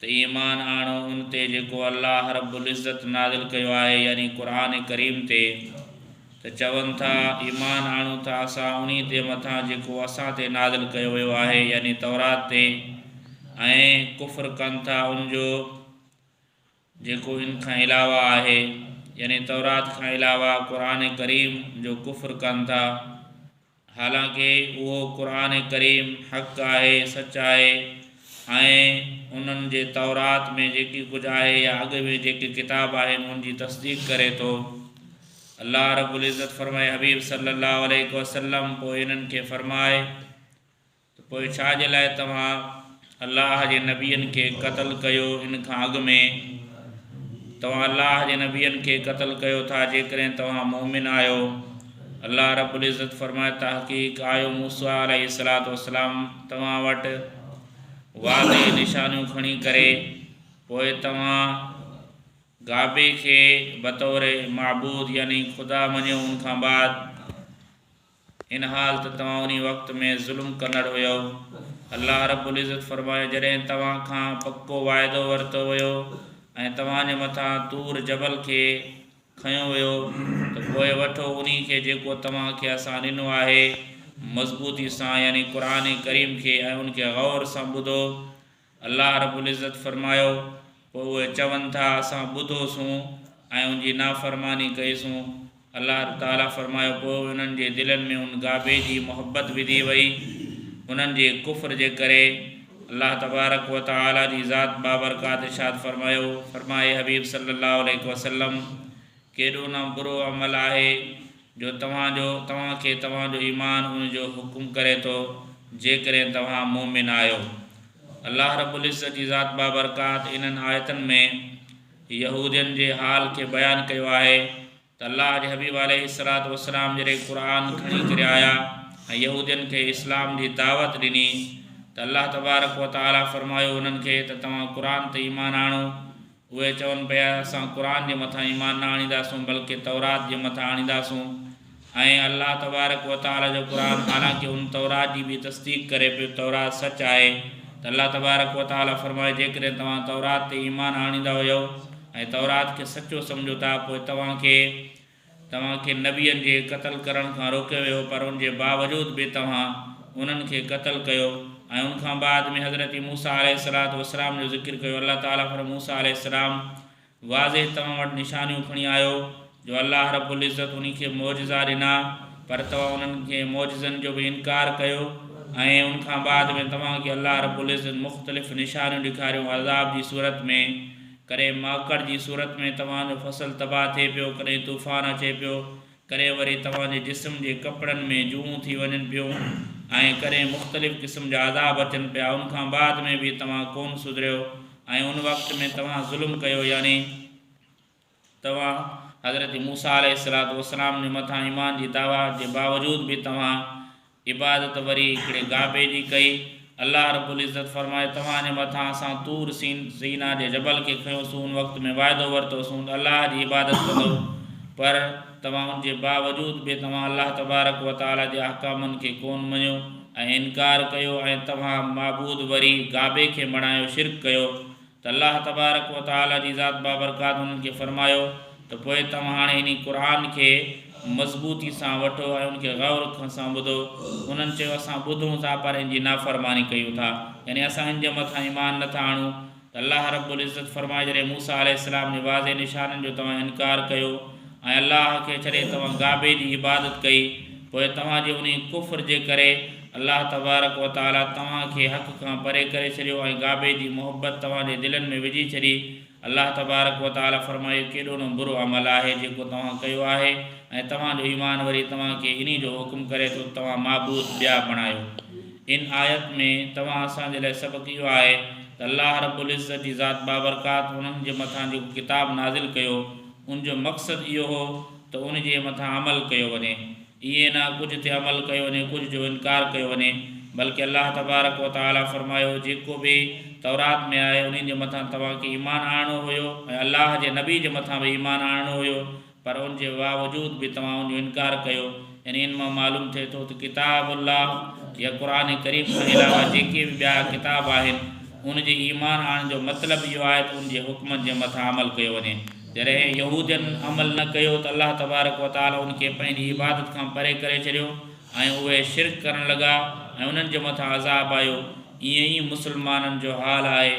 ته ايمان آڻو ان تي جيڪو الله رب العزت نازل ڪيو آهي يعني قرآن ڪريم تي، ته چون ٿا، ايمان آڻون ٿا اسان انهي تي مٿان جيڪو اسان تي نازل ڪيو ويو آهي يعني تورات تي ۽ ڪفر ڪن ٿا ان جو جيڪو ان کان علاوه آهي يعني تورات کان علاوه قرآن ڪريم جو ڪفر ڪن ٿا. حالانڪ اهو قرآن ڪريم حق آهي، سچ آهي ۽ انهن جي تورات ۾ جيڪي ڪجهه آهي يا اڳ ۾ جيڪي ڪتاب آهن انهن جي تصديق ڪري ٿو. الله رب العزت فرمائي حبيب صلّي اللّٰه عليه وسلّم پوء انهن کي فرماء، ته پوء ڇا جي لاء توهان الله جي نبين کي قتل ڪيو ان کان اڳ ۾؟ توهان الله جي نبين کي قتل ڪيو ٿا جيڪڏهن توهان مؤمن آهيو. الله رب العزت فرمائي تحقيق آيو موسيٰ عليه الصلوة والسلام توهان وٽ واضح نشانيون کڻي ڪري پوء توهان گابي کي بطور معبود يعني خدا مڃيو ان کان بعد ان حال ته توهان انهي وقت ۾ ظلم ڪندڙ هيؤ. الله رب العزت فرمايو، جڏهن توهان کان پڪو واعدو ورتو ويو ۽ توهان جي مٿان طور جبل کي کنيو ويو ته پوء وٺو انهي کي جيڪو توهان کي اسان ڏنو آهي مضبوطي سان يعني قرآن ڪريم کي ۽ ان کي غور سان ٻڌو الله رب العزت فرمايو، پوء اهي چون ٿا، اسان ٻڌو سون ۽ ان جي نافرماني ڪئي سون. الله تعالي فرمايو، پوء انهن جي دلن ۾ ان گابي جي محبت وڌي وئي، انهن جي ڪفر جي ڪري. الله تبارڪ وتعالي جي ذات بابرڪات ارشاد فرمايو، فرماء اي حبيب صلّي اللّٰه عليه وسلّم، ڪيڏو نه برو عمل آهي، جو توهان جو توهان کي توهان جو ايمان ان جو حڪم ڪري ٿو، جيڪڏهن توهان مؤمن آهيو. الله رب العزت جي ذات بابرڪات انهن آيتن ۾ يهودين جي حال کي بيان ڪيو آهي ته الله جي حبيب عليه الصلوة والسلام جڏهن قرآن کڻي ڪري آيا ۽ يهودين کي اسلام جي دعوت ڏني ته الله تبارڪ وتعالي فرمايو انهن کي ته توهان قرآن تي ايمان آڻو اهي چون پيا، اسان قرآن جي مٿان ايمان نه آڻينداسون بلڪه تورات جي مٿان آڻينداسون ۽ الله تبارڪ وتعاليٰ جو قرآن حالانڪه ان تورات جي به تصديق ڪري پيو تورات سچ آهي ته الله تبارڪ وتعاليٰ فرمايو جيڪڏهن توهان تورات تي ايمان آڻيندا هيؤ ۽ تورات کي سچو سمجهو ٿا پوء توهان کي توهان کي نبين جي قتل ڪرڻ کان روڪيو ويو پر ان جي باوجود به توهان انهن کي قتل ڪيو ۽ ان کان بعد ۾ حضرت موسيٰ عليه الصلوة والسلام جو ذڪر ڪيو الله تعالي فرمايو موسيٰ عليه السلام واضح توهان وٽ نشانيون کڻي آيو جو الله رب العزت انهي کي معجزا ڏنا پر توهان انهن کي معجزن جو به انڪار ڪيو ۽ ان کان بعد ۾ توهان کي الله رب العزت مختلف نشانيون ڏيکاريون عذاب جي صورت ۾ ڪڏهن ماڪڙ جي صورت ۾ توهان جو فصل تباهه ٿئي پيو، ڪڏهن طوفان اچي پيو، ڪڏهن وري توهان جي جسم جي ڪپڙن ۾ جوئون ٿي وڃن پيون ۽ ڪڏهن مختلف قسم جا عذاب اچن پيا ان کان بعد ۾ به توهان ڪون سڌريو ۽ ان وقت ۾ توهان ظلم ڪيو يعني توهان حضرت موسيٰ عليه السلام جي مٿان ايمان جي دعويٰ جي باوجود به توهان عبادت وري هڪڙي ڪعبي جي ڪئي. الله رب العزت فرمائي، توهان جي مٿان اسان طور سين، سينا، جي جبل کي کنيوسون ان وقت ۾ وعدو ورتوسون ته الله جي عبادت ڪندؤ پر توهان ان جي باوجود به توهان الله تبارڪ وتعالي جي احڪامن کي ڪون مڃيو ۽ انڪار ڪيو ۽ توهان معبود وري ڪعبي کي بڻايو شرڪ ڪيو ته الله تبارڪ و تعاليٰ جي ذات بابرڪات انهن کي فرمايو ته پوء توهان هاڻي انهي قرآن کي مضبوطي سان وٺو ۽ ان کي غور سان ٻڌو. انهن چيو اسان ٻڌون ٿا پر ان جي نافرماني ڪيون ٿا يعني اسان ان جي مٿان ايمان نه ٿا آڻون ته الله رب العزت فرمايو جڏهن موسيٰ عليه السلام جي واضح نشانن جو توهان انڪار ڪيو ۽ الله کي ڇڏي توهان گابي جي عبادت ڪئي پوء توهان جي انهي ڪفر جي ڪري الله تبارڪ وتعالي توهان کي حق کان پري ڪري ڇڏيو ۽ گابي جي محبت توهان جي دلن ۾ وجهي ڇڏي الله تبارڪ وتعالي فرمايو اهو ڪيڏو نه برو عمل آهي جيڪو توهان ڪيو آهي ۽ توهان جو ايمان وري توهان کي انهي جو حڪم ڪري ٿو ته توهان معبود ٻيا بڻايو ان آيت ۾ توهان اسان جي لاء سبق اهو آهي ته الله رب العزت جي ذات بابرڪات انهن جي مٿان جيڪو ڪتاب نازل ڪيو ان جو مقصد اهو هو ته ان جي مٿان عمل ڪيو وڃي، ائين نه ڪجهه تي عمل ڪيو وڃي ڪجهه جو انڪار ڪيو وڃي، بلڪه الله تبارڪ و تعالي فرمايو جيڪو به تورات ۾ آهي انهي جي مٿان توهان کي ايمان آڻڻو هيو ۽ الله جي نبي جي مٿان به ايمان آڻڻو هيو پر ان جي واوجود به توهان ان جو انڪار ڪيو. انهن مان معلوم ٿئي ٿو ته ڪتاب الله يا قرآن ڪريم کان علاوه جيڪي به ٻيا ڪتاب آهن ان جي ايمان آڻڻ جو مطلب اهو آهي ته ان جي حڪمن جي مٿان عمل ڪيو وڃي جڏهن يهودين عمل نه ڪيو ته الله تبارڪ وتعالي ان کي پنهنجي عبادت کان پري ڪري ڇڏيو ۽ اهي شرڪ ڪرڻ لڳا ۽ انهن جي مٿان عذاب آيو ائين ئي مسلمانن جو حال آهي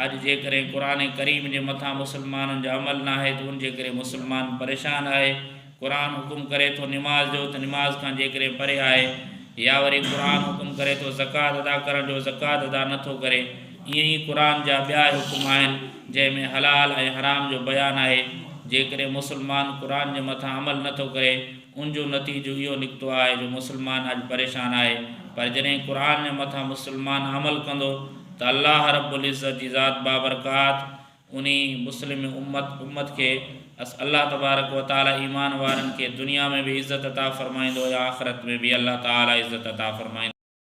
اڄ جيڪڏهن قرآن ڪريم جي مٿان مسلمانن جو عمل ناهي ته ان جي ڪري مسلمان پريشان آهي قرآن حڪم ڪري ٿو نماز جو ته نماز کان جيڪڏهن پري آهي يا وري قرآن حڪم ڪري ٿو زڪوات ادا ڪرڻ جو زڪوات ادا نه ٿو ڪري ائين ئي قرآن جا ٻيا حڪم آهن جنهن ۾ حلال ۽ حرام جو بيان آهي جيڪڏهن مسلمان قرآن جي مٿان عمل نه ٿو ڪري ان جو نتيجو اهو نڪتو آهي جو مسلمان اڄ پريشان آهي پر جڏهن قرآن جي مٿان مسلمان عمل ڪندو ته الله رب العزت جي ذات بابرڪات انهي مسلم امت، امّت، کي الله تبارڪ و تعالي ايمان وارن کي دنيا ۾ به عزت عطا فرمائيندو ۽ آخرت ۾ به الله تعالي عزت عطا فرمائيندو.